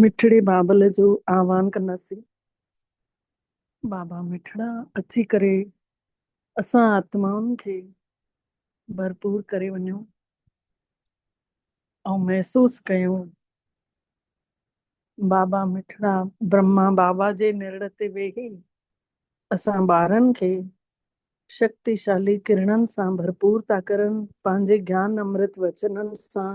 مٺڙي بابل جو آھوان ڪنداسين. بابا مٺڙا اچي ڪري اسان آتمائن کي ڀرپور ڪري وڃو ۽ محسوس ڪيون. بابا مٺڙا برھما بابا جي نرڙ تي ويھي اسان ٻارن کي شڪتيشالي ڪرڻن سان ڀرپور ٿا ڪرن پنھنجي گيان امرت وچنن سان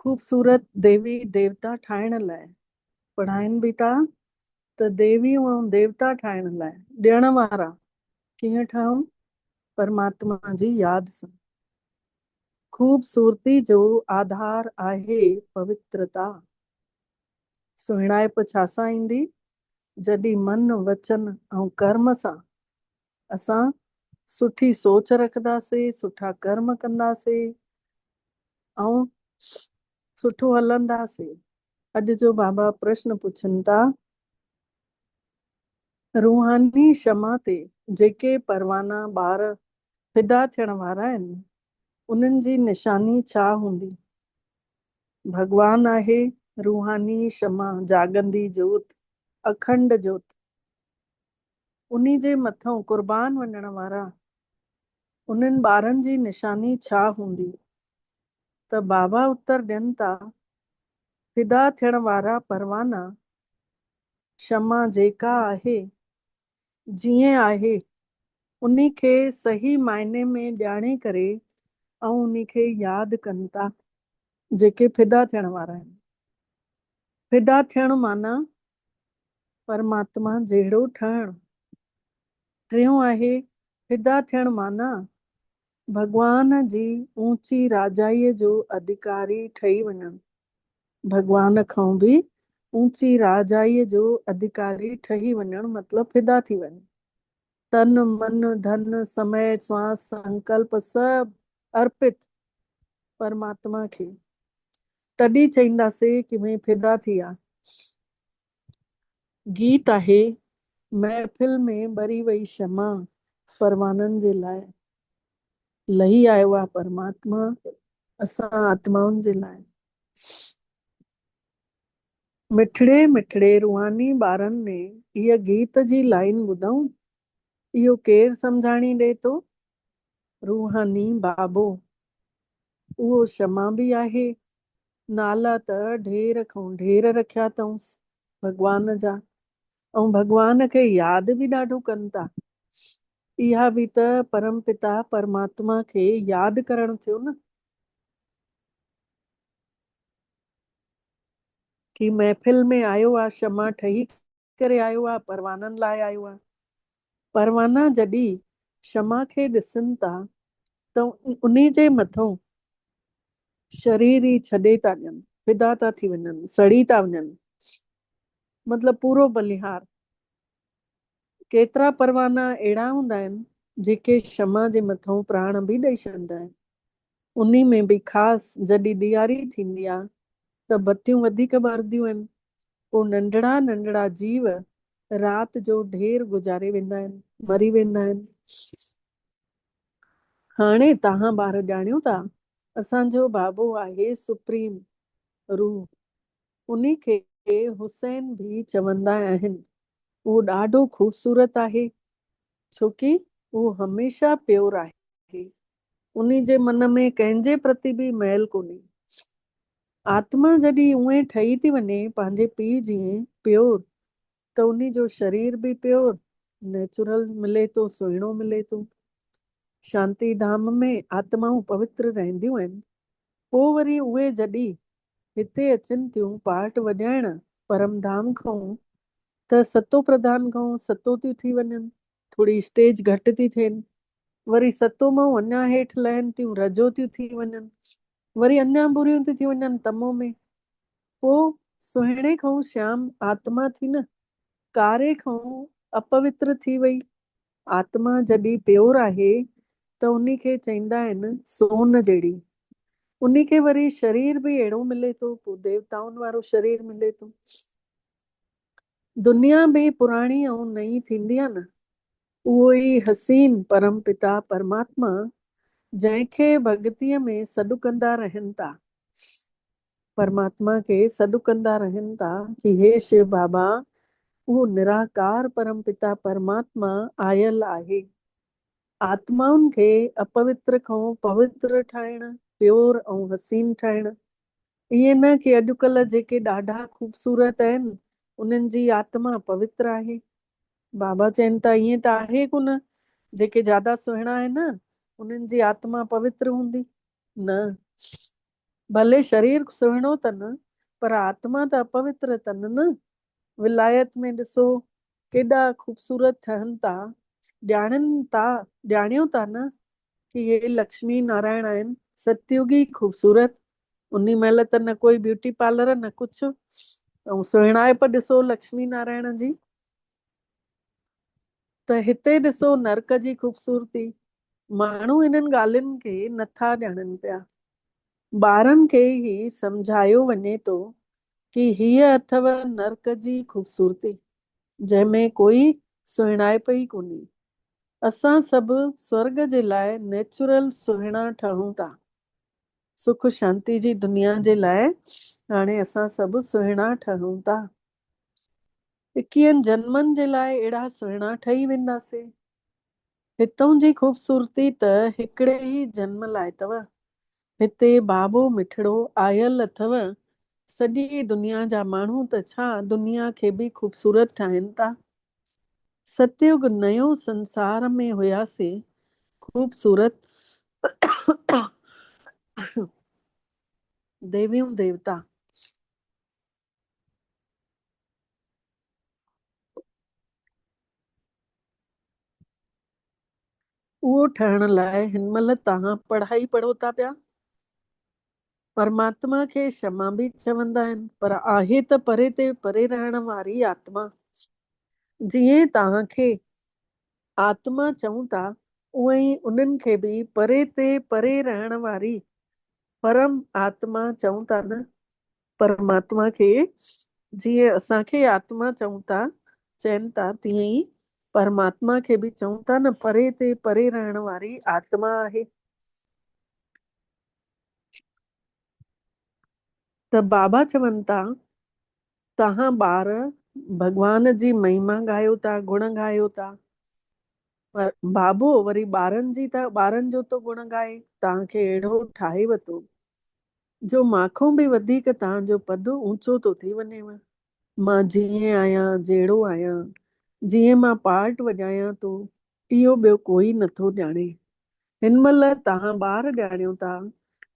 خوبصورت ديوي ديوتا ٺاهڻ لاء پڙهائين به ٿا ته ديويون ۽ ديوتا ٺاهڻ لاء ڏيڻ وارا ڪيئن ٺهون پرماتما جي ياد سان خوبصورتي جو آڌار آهي پوترتا سهڻائپ ڇا سان ايندي جڏهن من وچن ۽ ڪرم سان اسان سٺي سوچ رکنداسي، سٺا ڪرم ڪنداسي ۽ سٺو هلنداسي. اڄ جو بابا پرشن پڇن ٿا. روحاني شمع تي جيڪي پروانا ٻار فدا ٿيڻ وارا آهن، انهن جي نشاني ڇا هوندي؟ ڀڳوان آهي روحاني شمع، جاڳندي جوت، اکنڊ جوت. انهي جي مٿئون قربان وڃڻ وارا انهن ٻارن جي نشاني ڇا هوندي ته بابا اتر ڏين ٿا فدا ٿيڻ وارا پروانا شمع جيڪا آهي جيئن آهي انهي کي صحيح معني ۾ ڄاڻي ڪري ۽ انهي کي ياد ڪن ٿا جيڪي فدا ٿيڻ وارا آهن فدا ٿيڻ معنيٰ پرماتما جهڙو ٺهڻ. ٽيون آهي فدا ٿيڻ معنيٰ ڀڳوان جي اوچي راجائيء جو اڌڪاري ٺهي وڃڻ. ڀڳوان کان به اوچي راجائيء جو اڌڪاري ٺهي وڃڻ مطلب فدا ٿي وڃ. تن، من، ڌن، سمئي، سواس، سنڪلپ سڀ ارپت پرماتما کي. تڏهن چئينداسي ڪي مين فدا ٿي آ. گيت آهي، محفل ۾ ٻري وئي شمع پروانن جي لاء، لهي آيو آ پرماتما اسان آتمائن جي لاء. مٺڙي مٺڙي روحاني ٻارن ۾ هيء گيت جي لائين ٻڌئون، اهو ڪير سمجهاڻي ڏئي ٿو روحاني بابو، اهو شمع به آهي، نالا ته ڍير کان ڍير رکيا اٿئونس ڀڳوان جا ۽ ڀڳوان کي ياد به ڏاڍو ڪن ٿا. اها به ته پرم پتا پرماتما کي ياد ڪرڻ ٿيو نه. ڪي محفل ۾ آيو آ شمع ٺهي ڪري آيو آ پروانن لاء آيو آ پروانا جڏي شمع کي ڏسن تا ته انهي جي مٿئون شرير ئي ڇڏي تا ڏين فدا تا ٿي وڃن سڙي تا وڃن مطلب پورو بلهيار ڪيترا پروانا اهڙا هوندا آهن جيڪي شمع جي مٿئون پراڻ به ڏئي ڇڏندا آهن انهي ۾ به خاص جڏهن ڏياري ٿيندي آ ته بتيون وڌيڪ ٻارنديون آهن، پوء ننڍڙا ننڍڙا جيو رات جو ڍير گذاري ويندا آهن، مري ويندا آهن. هاڻي توهان ٻار ڄاڻيو ٿا اسان جو بابو آهي سپريم روح، انهي کي حسين به چوندا آهن، اهو ڏاڍو خوبصورت آهي ڇوڪي اهو هميشه پيور آهي. انهي جي من ۾ ڪنهن جي پرتي به ميل ڪونهي. آتما جڏهن اونهي ٺهي ٿي وڃي پنهنجي پيء جيئن پيور ته انهي جو شرير به پيور، نيچرل، ملي ٿو، سهڻو ملي ٿو. شانتي ڌام ۾ آتمائون پوتر رهنديون آهن. پوء وري اهي جڏهن هتي اچن ٿيون پارٽ وڄائڻ پرم ڌام کانئون ته ستو پرڌان کانئون ستو ٿيون ٿي وڃن. ٿوري اسٽيج گهٽ ٿي ٿين وري ستون مئو اڃا هيٺ لهن ٿيون رجو ٿيون ٿي وڃن وري اڃا بريون ٿيون ٿي وڃن تمو ۾ پوء سهڻي کانئون شيام آتما ٿي نه ڪاري کانئون اپوتر ٿي وئي آتما جڏي پيور آهي ته انهي کي چئيندا آهن سون جهڙي انهي کي وري شرير به اهڙو ملي ٿو پوء ديوتائن وارو شرير ملي ٿو دنيا به پراڻي ۽ نئين ٿيندي آهي نه اهو ئي حسين پرم پتا پرماتما جنهن کي ڀڳتيء ۾ سڏ ڪندا رهن ٿا، پرماتما کي سڏ ڪندا رهن ٿا ڪي هي شيو بابا، اهو نراڪار پرم پتا پرماتما آيل آهي آتمائن کي اپوتر کان پوتر ٺاهڻ، پيور ۽ حسين ٺاهڻ. ائين نه ڪي اڄڪلهه جيڪي ڏاڍا خوبصورت آهن انهن جي آتما پوتر آهي. بابا چين ته ائين ته آهي ڪونه، جيڪي جادا سهڻا آهن انهن جي آتما پوتر هوندي؟ نه. ڀلي شرير سهڻو تن پر آتما ته اپوتر تن نه. ولايت ۾ ڏسو ڪيڏا خوبصورت ٺهن ٿا، ڄاڻن ٿا، ڄاڻيو ٿا نه ڪي هي لڪشمي نارائڻ آهن، ستيوگي خوبصورت، انهي مهل ته نه ڪوئي بيوٽي پارلر نه ڪجهه ۽ سهڻائپ ڏسو لڪشمي نارائڻ جي. ته هتي ڏسو نرڪ جي خوبصورتي. ماڻهو انهن ڳالهين کي نه ٿا ڄاڻن پيا. ٻارن کي هي سمجهايو وڃي ٿو ڪي هيء اٿئو نرڪ جي خوبصورتي، جنهن ۾ ڪوئي سهڻائپ ئي ڪونهي. اسان سڀ سورڳ جي لاء نيچرل سهڻا ٺهون ٿا. سک شانتي جي دنيا جي لاء هاڻي اسان سڀ سهڻا ٺهون ٿا. اڪيهن جنمن جي لاء اهڙا سهڻا ٺهي وينداسين. هتئون جي خوبصورتي ته هڪڙي ئي جنم لاء اٿو. هتي بابو مٺڙو آيل اٿو. سڄي دنيا جا ماڻهو ته ڇا دنيا کي به خوبصورت ٺاهين ٿا. ستيوگ نئيو سنسار ۾ هياسين خوبصورت ديويون ديوتا. اهو ٺهڻ لاء هن مهل توهان پڙهائي پڙهو ٿا پيا. پرماتما کي شما به چوندا آهن پر آهي ته پري تي پري رهڻ واري آتما. جيئن توهان کي آتما چئون ٿا اونئن ئي انهن کي به پري تي پري رهڻ واري پرم آتما چئون ٿا نه؟ پرماتما کي جيئن اسان کي آتما چئون ٿا چين ٿا تيئن ئي پرماتما کي به چئون ٿا نه پري تي پري رهڻ واري آتما آهي ته بابا چون ٿا توهان ٻار ڀڳوان جي مهيما ڳايو ٿا گڻ ڳايو ٿا پر بابو وري ٻارن جي ته ٻارن جو ٿو گڻ ڳائي توهان کي اهڙو ٺاهي وتو جو مانکون به وڌيڪ توهان جو پد اوچو ٿو ٿي وڃيو. مان جيئن آهيان، جهڙو آهيان، جيئن مان پارٽ وڄايان ٿو، اهو ٻيو ڪوئي نه ٿو ڄاڻي. هن مهل توهان ٻار ڄاڻيو ٿا،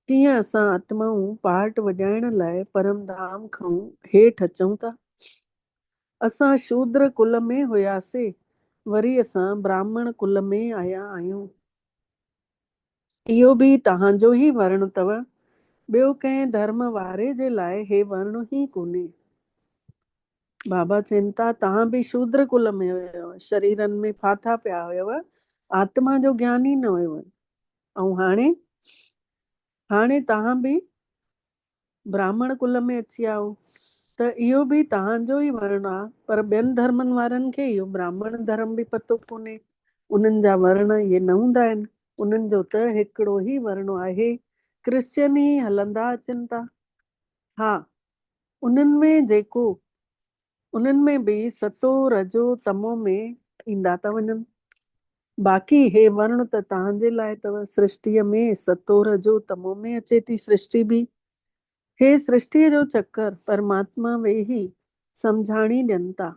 تيئن اسان آتمائون پارٽ وڄائڻ لاء پرم ڌام کئون هيٺ اچون ٿا. اسان شودر ڪل ۾ هياسي، وري اسان براهمڻ ڪل ۾ آيا آهيون. اهو به توهانجو ئي ورڻ اٿو، ٻيو ڪنهن ڌرم واري جي لاء هي ورڻ ئي ڪونهي. بابا چين ٿا، توهان به شودر ڪل ۾ هيو، شريرن ۾ ڦاٿا پيا هيو، آتما جو گيان ئي نه هيو، ۽ هاڻي؟ هاڻي توهان به براهمڻ ڪل ۾ اچي آئو ته اهو به توهان جو ئي ورڻ آ پر ٻين ڌرمن وارن کي اهو براهمڻ ڌرم به پتو ڪونهي انهن جا ورڻ اهي نه هوندا آهن انهن جو ته هڪڙو ئي ورڻ آهي ڪرسچن ئي هلندا اچن ٿا ها انهن ۾ جيڪو انهن ۾ به ستو، رجو، تمو ۾ ايندا ته وڃن. باقي هي ورڻ ته توهان جي لاء اٿو. سرشٽيء ۾ ستو، رجو، تمو ۾ اچي ٿي سرشٽي به. هي سرشٽيء جو چڪر پرماتما ويهي سمجهاڻي ڏين ٿا.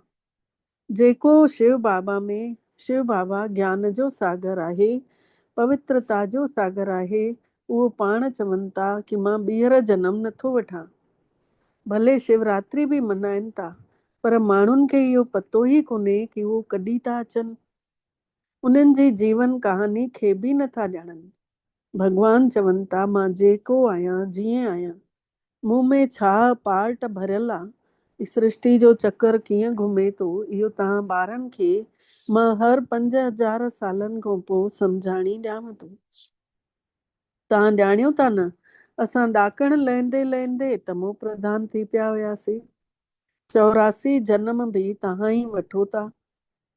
جيڪو شو بابا ۾، شو بابا گيان جو ساگر آهي، پوترتا جو ساگر آهي، اهو پاڻ چون ٿا ڪي مان ٻيهر جنم نه ٿو وٺان. ڀلي شيوراتري به منائين ٿا پر ماڻهن کي اهو پتو ئي ڪونهي ڪي اهو ڪڏي ٿا اچن. انهن جي جيون ڪهاڻي کي به نه ٿا ڄاڻن. ڀڳوان چون ٿا مان جيڪو آهيان جيئن آهيان مون ۾ ڇا پارٽ ڀريل آ؟ هي سرشتي جو چڪر ڪيئن گهمي ٿو اهو توهان ٻارن کي مان هر پنج هزار سالن کان پوء سمجهاڻي ڏيانو ٿو. توهان ڄاڻيو ٿا نه اسان ڏاڪڻ لهندي لهندي تمو پرڌان ٿي پيا هياسي. چوراسي جنم به توهان ئي وٺو ٿا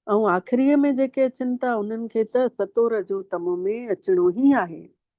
۽ آخريء ۾ جيڪي اچن ٿا انهن کي ته ستور جو تمو ۾ اچڻو ئي آهي.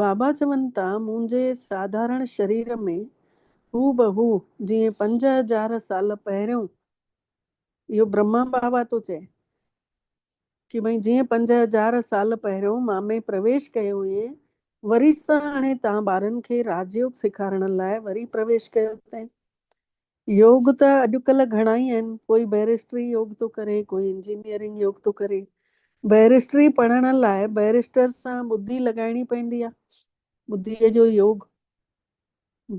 بابا چون ٿا، منهنجي ساڌارڻ شرير ۾ هوبهو جيئن پنج هزار سال پهريون اهو برهما بابا ٿو چئي ڪي ڀئي جيئن پنج هزار سال پهريون مان ۾ پرويش ڪيو هئين وري ساڻي تان ٻارن کي راجيوگ سيکارڻ لاء وري پرويش ڪيو اٿئين يوگ ته اڄڪلهه گهڻا ئي آهن، ڪوئي بئريسٽري يوگ ٿو ڪري، ڪوئي انجنيئرنگ يوگ ٿو ڪري. بئريسٽري پڙهڻ لاء بئريسٽر سان ٻڌي لڳائڻي پوندي آهي، ٻڌيء جو يوگ.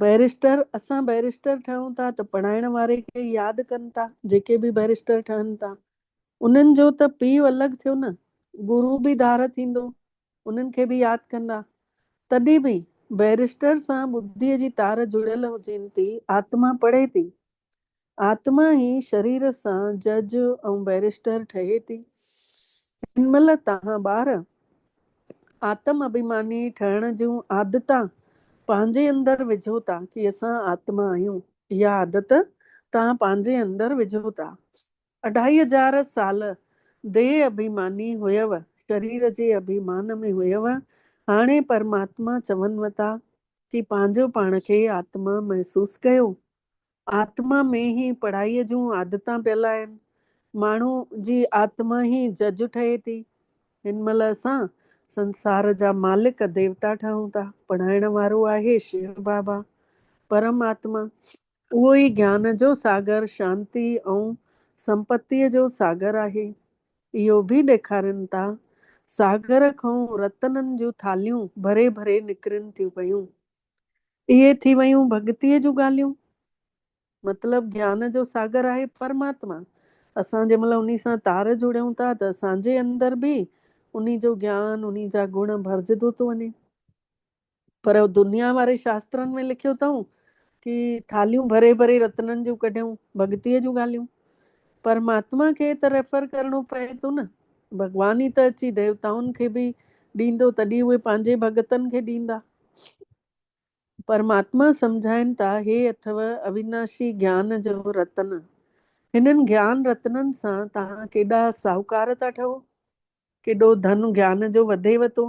بئريسٽر، اسان بئريسٽر ٺهون ٿا ته پڙهائڻ واري کي ئي ياد ڪن ٿا، جيڪي به بئريسٽر ٺهن ٿا، انهن جو ته پيء الڳ ٿيو نه، گرو به ڌار ٿيندو، انهن کي به ياد ڪندا. تڏهن به بئريسٽر سان ٻڌيء جي تار جڙيل هجين ٿي، آتما پڙهي ٿي. آتما ئي شرير سان جج ۽ بئريسٽر ٺهي ٿي. هن مهل توهان ٻار آتم اڀيماني ٺهڻ جون عادتان پنهنجي اندر وجهو ٿا ڪي اسان آتما آهيون. اها عادت توهان پنهنجي اندر وجهو ٿا. اڍائي هزار سال ديهه اڀيماني هيؤ، شرير جي اڀيمان ۾ هيؤ، هاڻي پرماتما چونو ٿا ڪي پنهنجو پاڻ کي آتما محسوس ڪيو. آتما ۾ هي پڙهائي جون عادتان پيل آهن. ماڻهو جي آتما هي جج ٺهي ٿي. هن مهل اسان سنسار جا مالڪ ديوتا ٺهون ٿا. پڙهائڻ وارو آهي شيو بابا، پرم آتما. اهو ئي گيان جو ساگر، شانتي ۽ سمپتيء جو ساگر آهي. اهو به ڏيکارين ٿا. ساگر کان رتنن جون ٿالهيون ڀري ڀري نڪرين ٿيون پيون. اهي ٿي ويون ڀڳتيء جون ڳالهيون. مطلب گيان جو ساگر آهي پرماتما. اسان جنهن مهل انهي سان تار جڙيون ٿا ته اسان جي اندر به انهي جو گيان، انهي جا گڻ ڀرجدو ٿو وڃي. پر دنيا واري شاسترن ۾ لکيو اٿئون ڪي ٿالهيون ڀري ڀري رتنن جون ڪڍيون، ڀڳتيء جون ڳالهيون. پر مهاتما کي ته ريفر ڪرڻو پوي ٿو نه، ڀڳوان ئي ته اچي ديوتائن کي به ڏيندو تڏهن اهي پنهنجي ڀڳتن کي ڏيندا. پر مهاتما سمجهائين ٿا هي اٿئو اويناشي گيان جو رتن، هنن گيان رتنن سان توهان ڪيڏا ساهوڪار ٿا ٺهو. ڪيڏو ڌن گيان جو وڌيو تو،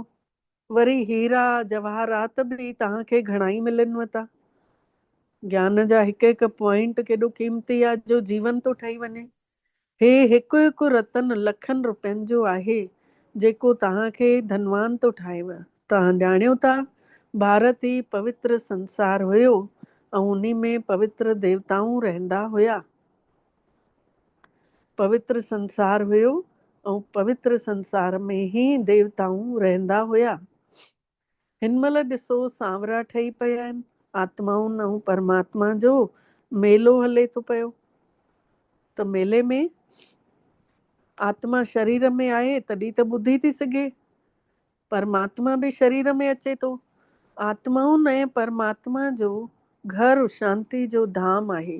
وري هيرا جواهرات به توهان کي گهڻائي ملنو تا. گيان جا هڪ هڪ پوائنٽ ڪيڏو قيمتي آ جو جيون ٿو ٺهي وڃي. هي هڪ هڪ رتن لکن روپين جو آهي جيڪو توهان کي ڌنوان ٿو ٺاهيو. توهان ڄاڻيو ٿا ڀارت ئي پوتر سنسار هيو ۽ انهي ۾ پوتر ديوتائون رهندا هيا. پوتر سنسار هيو ۽ پوتر سنسار ۾ هي ديوتائون رهندا هيا. هن مهل ڏسو سانورا ٺهي پيا آهن، آتمائن ۽ پرماتما جو ميلو هلي ٿو پيو ته ميلي ۾ آتما شرير ۾ آهي تڏهن ته ٻڌي ٿي سگهي، پرماتما به شرير ۾ اچي ٿو. آتمائن ۽ پرماتما جو گهر شانتي جو ڌام آهي،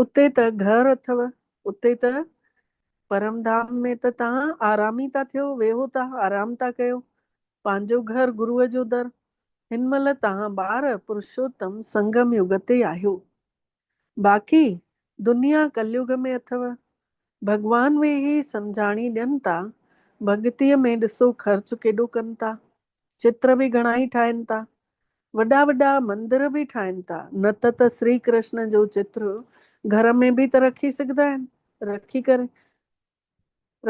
اتي ته گهر اٿو، اتي ته پرم ڌام ۾ ته توهان آرامي ٿا ٿيو، ويهو ٿا، آرام ٿا ڪيو. پنهنجو گهر گروء جو در. هن مهل توهان ٻار پرشوتم سنگم يگ تي آهيو. باقي دنيا ڪليگ ۾ اٿو. ڀڳوان ويهي سمجهاڻي ڏين ٿا، ڀڳتيء ۾ ڏسو خرچ ڪيڏو ڪن ٿا. چتر به گهڻائي ٺاهين ٿا. وڏا وڏا مندر به ٺاهين ٿا. نه ته ته سري ڪرشن جو چتر گهر ۾ به ته رکي سگهدا آهن. رکي ڪري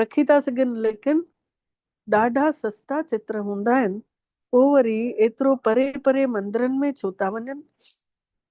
رکي ٿا سگهن ليڪن ڏاڍا سستا چتر هوندا آهن. پوء وري ايترو پري پري مندرن ۾ ڇو ٿا وڃن.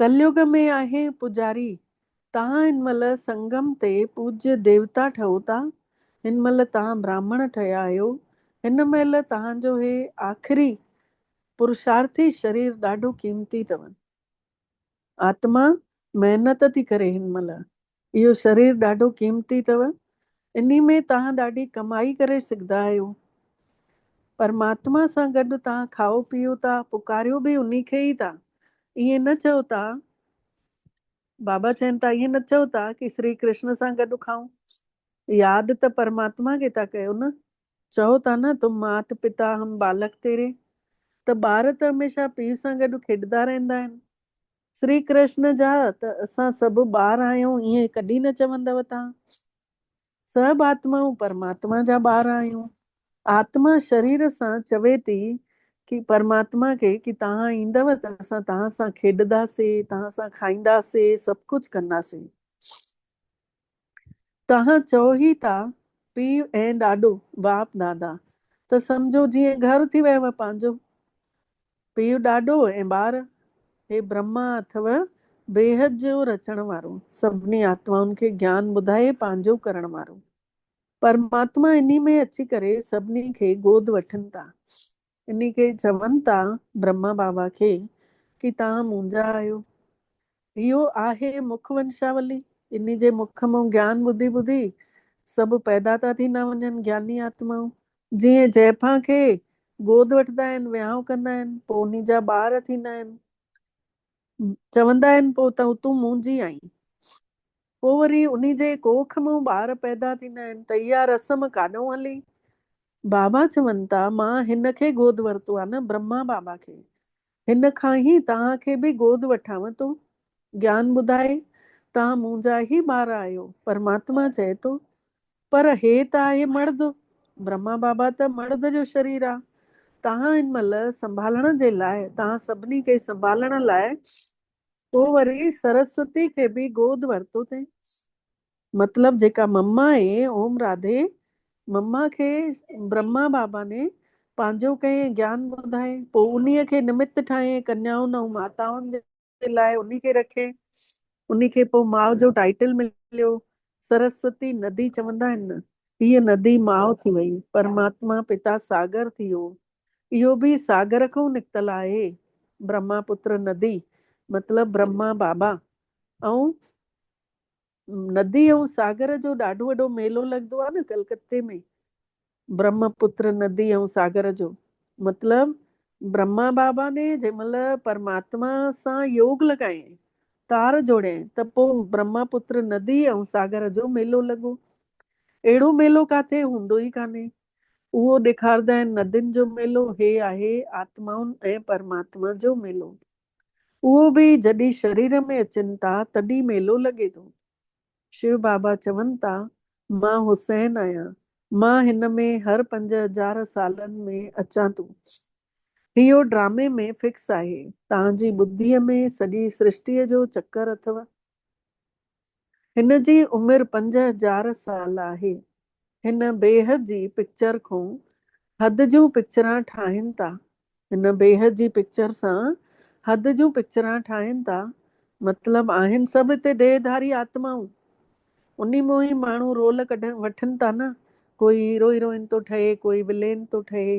ڪليوڳ ۾ آهي پوڄاري، تان هن مهل سنگم تي پوڄي ديوتا ٺهو ٿا، هن مهل تان براهمڻ ٺهيا آهيو، هن مهل تان جو هي آخري پرشارٿي شرير ڏاڍو قيمتي اٿو. آتما محنت ٿي ڪري هن مهل، اهو شرير ڏاڍو قيمتي اٿو، انهي ۾ توهان ڏاڍي ڪمائي ڪري سگهندا آهيو. پرماتما سان گڏ توهان کائو پيئو ٿا، پڪاريو به انهي کي ئي ٿا. ائين نه چئو ٿا، بابا چين ٿا، ائين نه چئو ٿا ڪي شري ڪرشن سان گڏ کائون. ياد ته پرماتما کي ٿا ڪيو نه. چئو ٿا نه، تم مات پتا، هم بالڪ تيري. ته ٻار ته هميشه پيء سان گڏ کيڏندا رهندا آهن. شري ڪرشن جا ته اسان سڀ ٻار آهيون ائين ڪڏهن نه چوندؤ تان سڀ آتمائون پرماتما جا ٻار آهيون آتما شرير سان چوي ٿي ڪي پرماتما کي ڪي تهان ايندؤ ته اسان تهان سان کيڏداسي تهان سان کائينداسي سڀ ڪجهه ڪنداسي توهان چئو هي ٿا پيء ۽ ڏاڏو، باپ دادا، ته سمجهو جيئن گهر ٿي ويو پنهنجو. پيء ڏاڏو ۽ ٻار، هي برهما اٿو بيحد جو رچڻ وارو، سڀني آتمائن کي گيان ٻڌائي پنهنجو ڪرڻ وارو. پرماتما انهي ۾ اچي ڪري سڀني کي گود وٺن ٿا. انهي کي چون ٿا برهما بابا کي ڪي توهان منهنجا آهيو. اهو آهي مک ونشاولي. انهي جي مک مون گيان ٻڌي ٻڌي سڀ پيدا ٿا ٿيندا وڃن گياني آتمائون. جيئن جئفان کي گود وٺندا آهن ويهانء ڪندا آهن پوء انهي جا ٻار ٿيندا آهن. چوندا آهن پوء ته تون منهنجي آهين. پوء وري انهي جي ڪوک مان ٻار پيدا ٿيندا آهن ته اها رسم ڪاڏئون هلي؟ بابا چون ٿا مان هن کي گود ورتو آهي نه برهما بابا کي. هن کان ئي توهان کي به گود وٺاون ٿو. گيان ٻڌائي توهان منهنجا ئي ٻار آهيو. پرماتما چئي ٿو پر هي ته آهي مڙد. برهما بابا ته مڙد جو شرير آ. توهان هن مهل سنڀالڻ جي لاء توهان سڀني کي سنڀالڻ لاء پوء وري سرسوتي کي به گود ورتو تين. مطلب جيڪا مما اي اوم راڌي مما کي برهما بابا ني پنهنجو ڪئين ۽ گيان ٻڌائين پوء انهيء کي نمت ٺاهين ڪنيائن ۽ ماتائن جي جي لاء انهي کي رکي. انهي کي پوء ماء جو ٽائيٽل مليو. سرسوتي ندي چوندا آهن. هيء ندي ماء ٿي وئي. پرماتما پتا ساگر ٿي ويو. اهو به ساگر کان نڪتل آهي. برهما پتر ندي مطلب برهما بابا ۽ ندي ۽ ساگر جو ڏاڍو وڏو ميلو لڳندو آهي نه ڪلڪتي ۾ برهما پتر ندي ۽ ساگر جو مطلب برهما بابا ني جنهن مهل پرماتما سان يوگ لڳايائين تار جوڙيائين ته پوء برهما پتر ندي ۽ ساگر جو ميلو لڳو اهڙو ميلو ڪاٿي هوندو ئي ڪانهي اهو ڏيکاردا آهن ندين جو ميلو هي آهي آتمائن ۽ پرماتما جو ميلو. اهو به جڏي شرير ۾ اچن ٿا تڏي ميلو لڳي ٿو. شو بابا چون ٿا مان حسين آهيان مان هن ۾ هر پنج هزار سالن ۾ اچان ٿو. اهو ڊرامي ۾ فڪس آهي. تهان جي ٻڌيء ۾ سڄي سرشٽيء جو چڪر اٿو. هن جي عمر پنج هزار سال آهي. هن بيهه جي پڪچر کون حد جون پڪچران ٺاهين ٿا. هن بيهه جي پڪچر سان حد جون پڪچران ٺاهين ٿا. مطلب آهن سڀ هتي ديهه ڌاري آتمائون. انهي مون ئي ماڻهو رول ڪڍن وٺن ٿا نه. ڪوئي هيرو هيروئن ٿو ٺهي ڪوئي ولين ٿو ٺهي.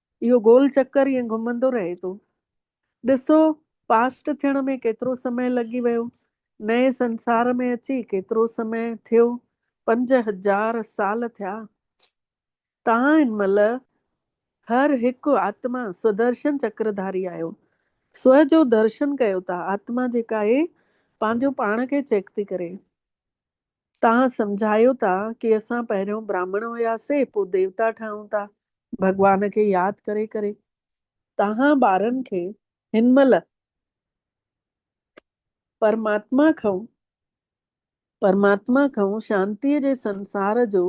اهو گول چڪر ائين گهمندو رهي ٿو. ڏسو پاسٽ ٿيڻ ۾ ڪيترو سمئي لڳي ويو، نئين سنسار ۾ اچي ڪيترو سمئي ٿيو، پنج هزار سال ٿيا. تان هن مهل هر هڪ آتما سودرشن چڪر ڌاري آهيو. سو جو درشن ڪيو ته آتما جيڪا اهي پنهنجو پاڻ کي چيڪ ٿي ڪري. توهان سمجهايو ٿا ڪي اسان پهريون براهمڻ هياسين پوء ديوتا ٺاهون ٿا ڀڳوان کي ياد ڪري ڪري توهان ٻارن کي هن مهل پرماتما کئون پرماتما کئون شانتي جي سنسار جو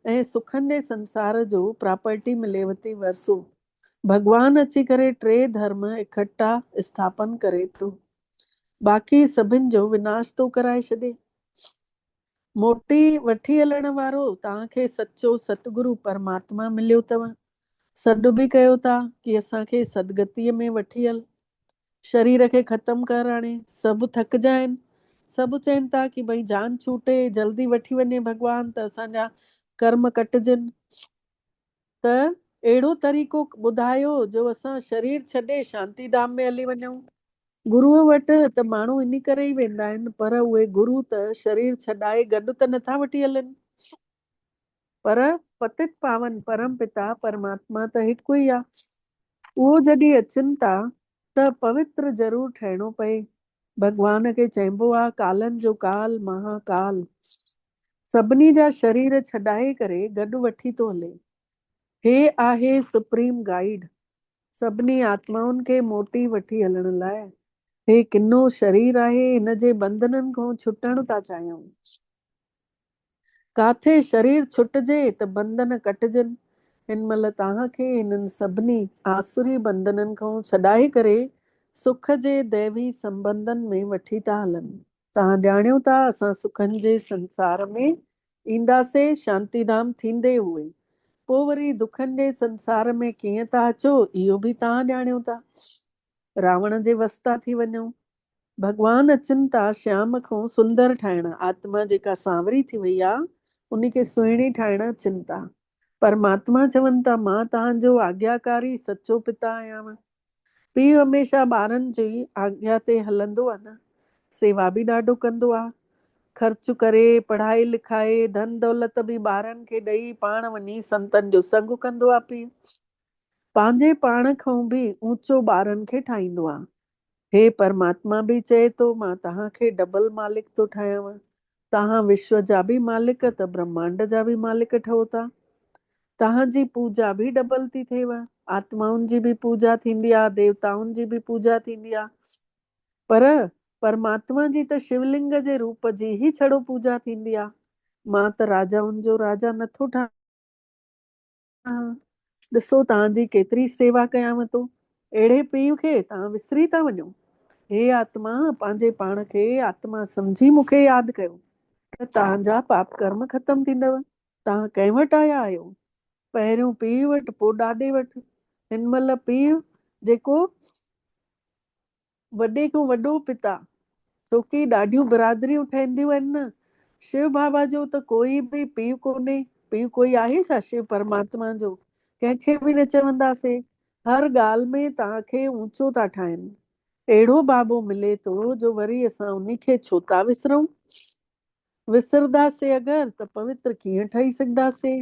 ۽ سکن جي سنسار جو پراپرٽي مليوٿي ورثو ڀڳوان اچي ڪري ٽي ڌرم اڪٺا اسٿاپن ڪري ٿو. باقي سڀن جو وناش ٿو ڪرائي ڇڏي. موٽي وٺي هلڻ وارو توهان کي سچو ستگرو پرماتما مليو اٿو. سڏ به ڪيو ٿا ڪي اسان کي سدگتيء ۾ وٺي هل. شرير کي ختم ڪر هاڻي. سڀ ٿڪجا آهن. سڀ چين ٿا ڪي ڀئي جان ڇوٽي جلدي وٺي وڃي ڀڳوان ته اسان جا ڪرم ڪٽجن. ته اهڙو طريقو ٻڌايو جو اسان شرير ڇڏي شانتي ڌام ۾ هلي وڃون. گروء وٽ ته ماڻهو انهي ڪري ئي ويندا آهن پر اهي گرو ته شرير ڇڏائي گڏ ته نٿا وٺي هلن پر پتت پاون پرم پتا پرماتما ته هڪ ئي آهي اهو جڏهن اچن ٿا ته پوتر ضرور ٺهڻو پئي ڀڳوان کي چئبو آهي ڪالن جو ڪال مها ڪال سڀني جا شرير ڇڏائي ڪري گڏ وٺي ٿو هلي. هي آهي سپريم گائيڊ، سڀني آتمائن کي موٽي وٺي هلڻ لاء. هي ڪنو شرير آهي، هن جي بندنن کون ڇٽڻ ٿا چاهيون. ڪاٿي شرير ڇٽجي ته بندن ڪٽجن. هن مهل توهان کي هنن سڀني آسري بندنن کون ڇڏائي ڪري سک جي ديوي سنبنڌن ۾ وٺي ٿا هلن. توهان ڄاڻيو ٿا اسان سکن جي سنسار ۾ اينداسي شانتي ڌام ٿيندي هئي پو وري دکن جي سنسار ۾ ڪيئن ٿا اچو اهو به توهان ڄاڻيو ٿا راوڻ جي وس ٿا ٿي وڃو ڀڳوان اچن ٿا شيام کون سندر ٺاهڻ آتما جيڪا سانوري ٿي وئي آ انهي کي سهڻي ٺاهڻ اچن ٿا پرماتما چون ٿا، مان توهان جو آجياڪاري سچو پتا آهيانو. پيء هميشه ٻارن جي آجيا تي هلندو آهي نه، سيوا به ڏاڍو ڪندو آهي. خرچ ڪري، پڙهائي لکائي، ڌن دولت به ٻارن کي ڏئي پاڻ وڃي سنتن جو سنگ ڪندو آهي پيء پنهنجي پاڻ کان به اوچو ٻارن کي ٺاهيندو آهي. هي پرماتما به چئي ٿو مان توهان کي ڊبل مالڪ ٿو ٺاهيانو. توهان وشو جا به مالڪ ته برهمانڊ جا به مالڪ ٺهو ٿا. توهان جي پوڄا به ڊبل ٿي ٿئيو. آتمائن جي به پوڄا ٿيندي آ، ديوتائن جي به پوڄا ٿيندي آ. پر پرماتما جي ته شو لنگ جي روپ جي ئي ڇڙو پوڄا ٿيندي آ. مان ته راجائن جو راجا نه ٿو ٺاهيان. ڏسو توهان جي ڪيتري سيوا ڪيانو ٿو، اهڙي پيء کي توهان وسري ٿا وڃو. هي آتما پنهنجي پاڻ کي آتما سمجهي مون کي ياد ڪيو ته توهان جا پاپ ڪرم ختم ٿيندؤ. توهان ڪنهن وٽ آيا آهيو؟ پهريون پيء وٽ پوء ڏاڏي وٽ. هن مهل پيء جيڪو. وڏي کان وڏو پتا ڇوڪي ڏاڍيون برادريون ٺهنديون آهن نه شو بابا جو ته ڪوئي به پيء ڪونهي پيء ڪوئي آهي ڇا شو پرماتما جو ڪنهن کي به نه چونداسي هر ڳالهه ۾ توهان کي اونچو ٿا ٺاهين اهڙو بابو ملي ٿو جو وري اسان انهي کي ڇو ٿا وسرون وسرداسي اگر ته پوتر ڪيئن ٺهي سگهداسي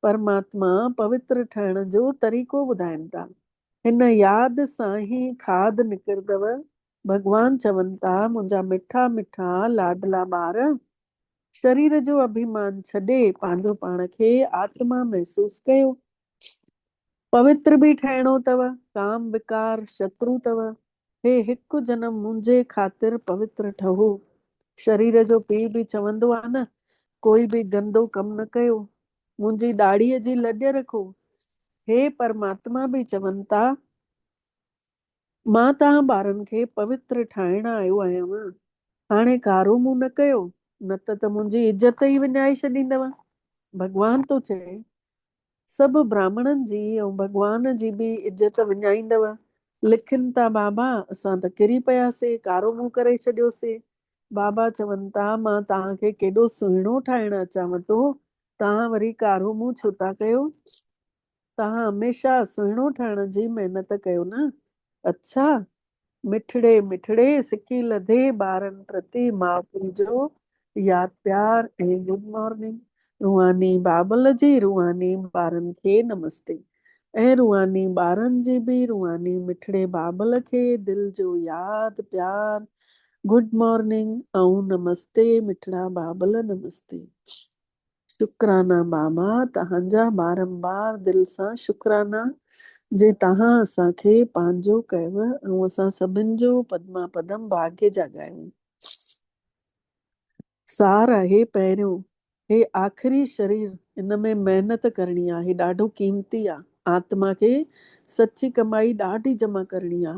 پرماتما پوتر ٺهڻ جو طريقو ٻڌائين ٿا. هن ياد سان ئي کاڌ نڪردو. ڀڳوان چون ٿا منهنجا مٺا مٺا لاڏلا ٻار، شرير جو اڀيمان ڇڏي پنهنجو پاڻ کي آتما محسوس ڪيو. پوتر به ٺهڻو اٿو، ڪام وڪار شترو اٿو، هي هڪ جنم منهنجي خاطر پوتر ٺهو. شرير جو پيء به چوندو آهي نه، ڪوئي به گندو ڪم نه ڪيو، منهنجي ڏاڙهيء جي لڄ رکو. هي پرماتما به چون ٿا، مان توهان ٻارن کي پوتر ٺاهڻ آيو آهيان. هاڻي ڪارو منهن نه ڪيو، نه ته ته منهنجي عزت ئي وڃائي ڇڏيندؤ. ڀڳوان ٿو چئي، سڀ براهمڻن جي ۽ ڀڳوان جي به عزت وڃائيندؤ. لکن ٿا، بابا، اسان ته ڪري پياسين، ڪارو منهن ڪري ڇڏيوسين. بابا چون ٿا، مان توهان کي ڪيڏو سهڻو ٺاهڻ اچانو ٿو، توهان وري ڪارو منهن ڇو ٿا ڪيو؟ توهان هميشه سهڻو ٺهڻ جي محنت ڪيو نه؟ اڇا! مٺڙي مٺڙي سڪي لڌي ٻارن پرتي ماء پيء جو ياد پيار ۽ گڊ مارننگ روحاني بابل جي روحاني ٻارن کي نمستي. اي روحاني ٻارن جي به روحاني مٺڙي بابل کي دل جو ياد پيار گڊ مارننگ ۽ نمستي مٺڙا بابل نمستي شڪرانا بابا تهانجا بارمبار دل سان شڪرانا جي تهان اسان کي پنهنجو ڪيو ۽ اسان سڀن جو پدما پدم ڀاگي جاڳايو. سار آهي پهريون هي آخري شرير ان ۾ محنت ڪرڻي آ هي ڏاڍو قيمتي آ آتما کي سچي ڪمائي ڏاڍي جمع ڪرڻي آ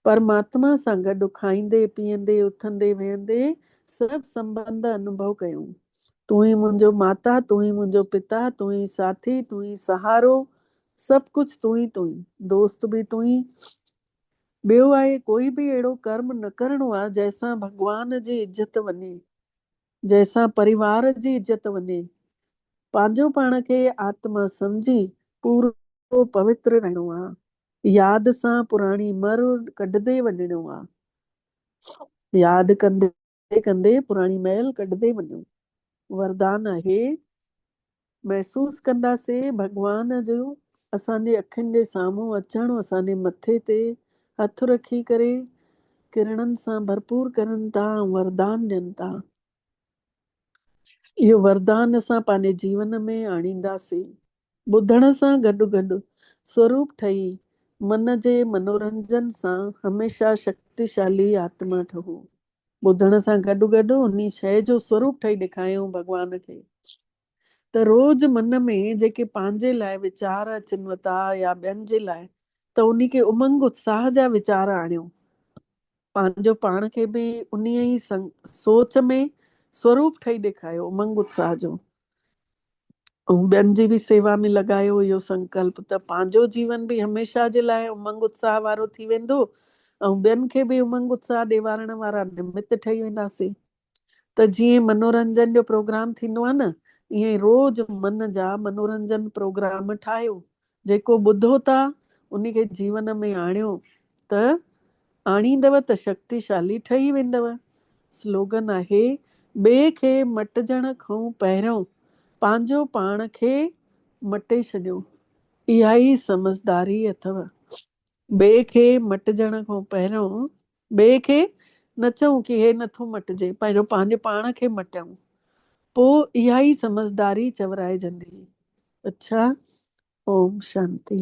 پرماتما سان گڏ کائيندي پيئندي اٿندي ويهندي سڀ سنبنڌ انوڀو ڪيون تون ئي منهنجو ماتا تون ئي منهنجو پتا تون ئي ساٿي تون ئي سهارو سڀ ڪجهه تون ئي تون ئي دوست به تون ئي ٻيو آهي ڪوئي به اهڙو ڪرم نه ڪرڻو آهي جنهن سان ڀڳوان جي عزت وڃي، جنهن سان پريوار جي عزت وڃي. پنهنجو پاڻ کي آتما سمجهي پورو پوتر رهڻو آهي. ياد سان پراڻي مر ڪڍندي وڃڻو آهي. ياد ڪندي ڪندي ڪندي پراڻي مئل ڪڍندي وڃو. وردان آهي. محسوس ڪنداسين ڀڳوان جو اسان جي اکين جي سامهون اچڻ اسان جي مٿي تي هٿ رکي ڪري ڪرڻن سان ڀرپور ڪرن ٿا ۽ وردان ڏين ٿا. اهو وردان اسان پنهنجي جيون ۾ آڻينداسين. ٻڌڻ سان گڏ گڏ سوروپ ٺهي من جي منورنجن سان هميشه شڪتيشالي آتما ٺهو. ٻڌڻ سان گڏ گڏ انهي شيء جو سوروپ ٺهي ڏيکايائون ڀڳوان کي ته روز من ۾ جيڪي پنهنجي لاء ويچار اچن وتا يا ٻين جي لاء ته انهي کي امنگ اتساهه جا ويچار آڻيو پنهنجو پاڻ کي به انهي ئي سوچ ۾ سوروپ ٺهي ڏيکايو امنگ اتساهه جو ۽ ٻين جي به سيوا ۾ لڳايو اهو سنڪلپ ته پنهنجو جيون به هميشه جي لاء امنگ اتساهه وارو ٿي ويندو ۽ ٻين کي به امنگ اتساهه ڏيوارڻ وارا نمت ٺهي وينداسين ته جيئن منورنجن جو پروگرام ٿيندو آهي نه ايئن روز من جا منورنجن پروگرام ٺاهيو جيڪو ٻڌو ٿا ان کي جيون ۾ آڻيو ته آڻيندؤ ته شڪتيشالي ٺهي ويندؤ. سلوگن آهي، ٻئي کي مٽجڻ کئون پهريون پنهنجو پاڻ کي مٽي ڇڏيو. اها ئي سمجهداري اٿئو. ٻئي کي مٽجڻ کئون پهريون ٻئي کي نه چئون ڪي هي نه ٿو مٽجي پهريون پنهنجي پاڻ کي مٽيون پو اها ئي سمجهداري چورائجندي اڇا اوم شانتي.